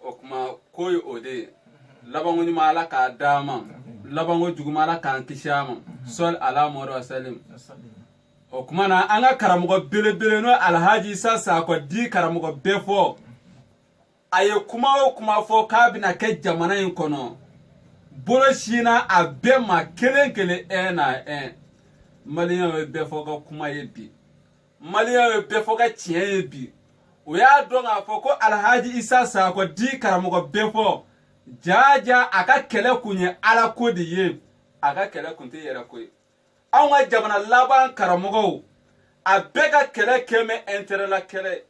o kuma ko ye o de ye labanko ɲuman ala k'a d'an ma labanko juguman ala k'an kisi a ma sɔli ala muhamadi wasalim o kuma na an ka karamɔgɔ belebele n'o alhaji isa sakɔ di karamɔgɔ bɛfɔ a ye kuma o kuma fɔ k'a bɛna kɛ jamana in kɔnɔ bolo sinna a bɛɛ ma kelen kelen un à un maliyɛnw ye bɛfɔ ka kuma ye bi maliyɛnw ye bɛfɔ ka tiɲɛ ye bi u y'a dɔn k'a fɔ ko alhaji isa sakɔ di karamɔgɔ bɛfɔ jaaja a ka kɛlɛ kun ye ala ko de ye a ka kɛlɛ kun tɛ yɛrɛ ko ye anw ka jamana laban karamɔgɔw a bɛɛ ka kɛlɛ kɛlen bɛ intérêt la kɛlɛ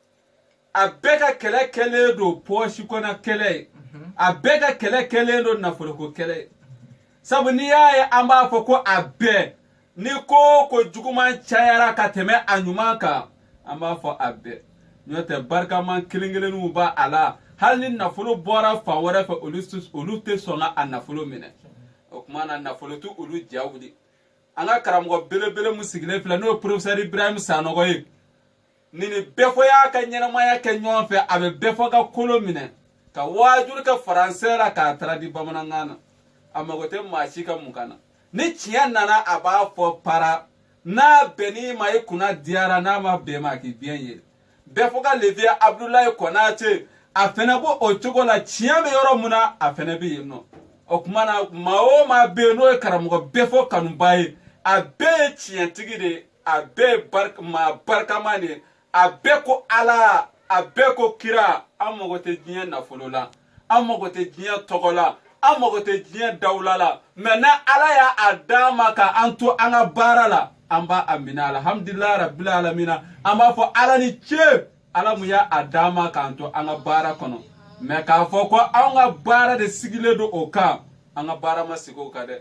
a bɛɛ ka kɛlɛ kɛlen don pɔɔsi kɔnɔ kɛlɛ ye a bɛɛ ka kɛlɛ kɛlen don nafoloko kɛlɛ ye sabu n'i y'a ye an b'a fɔ ko a bɛɛ ni ko o ko juguman cayara ka tɛmɛ a ɲuman kan an b'a fɔ a bɛɛ n'o tɛ barikaman kelen kelenninw b'a la hali ni nafolo bɔra fan wɛrɛ fɛ olu tɛ- olu tɛ sɔn ka a nafolo minɛ o tuma na nafolo tɛ olu ja wuli an ka karamɔgɔ belebele min sigilen filɛ n'o ye porofesɛri ibrahim sanɔgɔ ye nin ni bɛfɔ y'a ka ɲɛnamaya kɛ ɲɔgɔn fɛ a bɛ bɛfɔ ka kolo minɛ ka waajuli kɛ faransɛ la k'a traduit bamanankan na a mago tɛ maa si ka mun kan na ni tiɲɛ nana a b'a fɔ para n'a bɛnn'i ma i kunna diyara n'a ma bɛn ma k'i biɲɛ ye bɛfɔ ka le vieux abudulayi kɔnate a fɛnɛ b'o o cogo la tiɲɛ bɛ yɔrɔ mun na a fɛnɛ bɛ yen nɔ o tuma na maa o maa bɛ yen n'o ye karamɔgɔ bɛfɔ kanubaa ye a bɛɛ ye tiɲɛtigi de ye a bɛɛ ye maa barikama de a bɛɛ ko ala a bɛɛ ko kira an mago tɛ diɲɛ nafolo la an mago tɛ diɲɛ tɔgɔ la an mago tɛ diɲɛ dawula la mɛ na ala y'a d'an ma ka an to an ka baara la an b'a minɛ alhamdulilayi rabili alamina an b'a fɔ ala ni ce ala mun y'a d'an ma k'an to an ka baara kɔnɔ mɛ k'a fɔ ko anw ka baara de sigilen don o kan an ka baara ma sigi o kan dɛ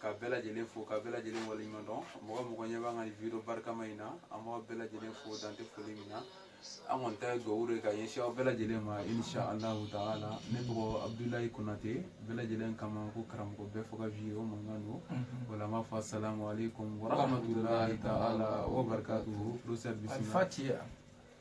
ka bɛɛ lajɛlen fo ka bɛɛ lajɛlen waleɲuman dɔn mɔgɔ o mɔgɔ ɲɛ b'an ka nin video barikama in na an b'aw bɛɛ lajɛlen fo dan tɛ foli min na an kɔni ta ye dugawu de ka ɲɛsin aw bɛɛ lajɛlen ma insha allahu taala ne tɔgɔ abudulayi konate bɛɛ lajɛlen k'a ma ko karamɔgɔ bɛfɔ ka vieux mankan don o la an b'a fɔ asalamu aleykum warahmatulahi taala wa barakatuhu professeur bisimila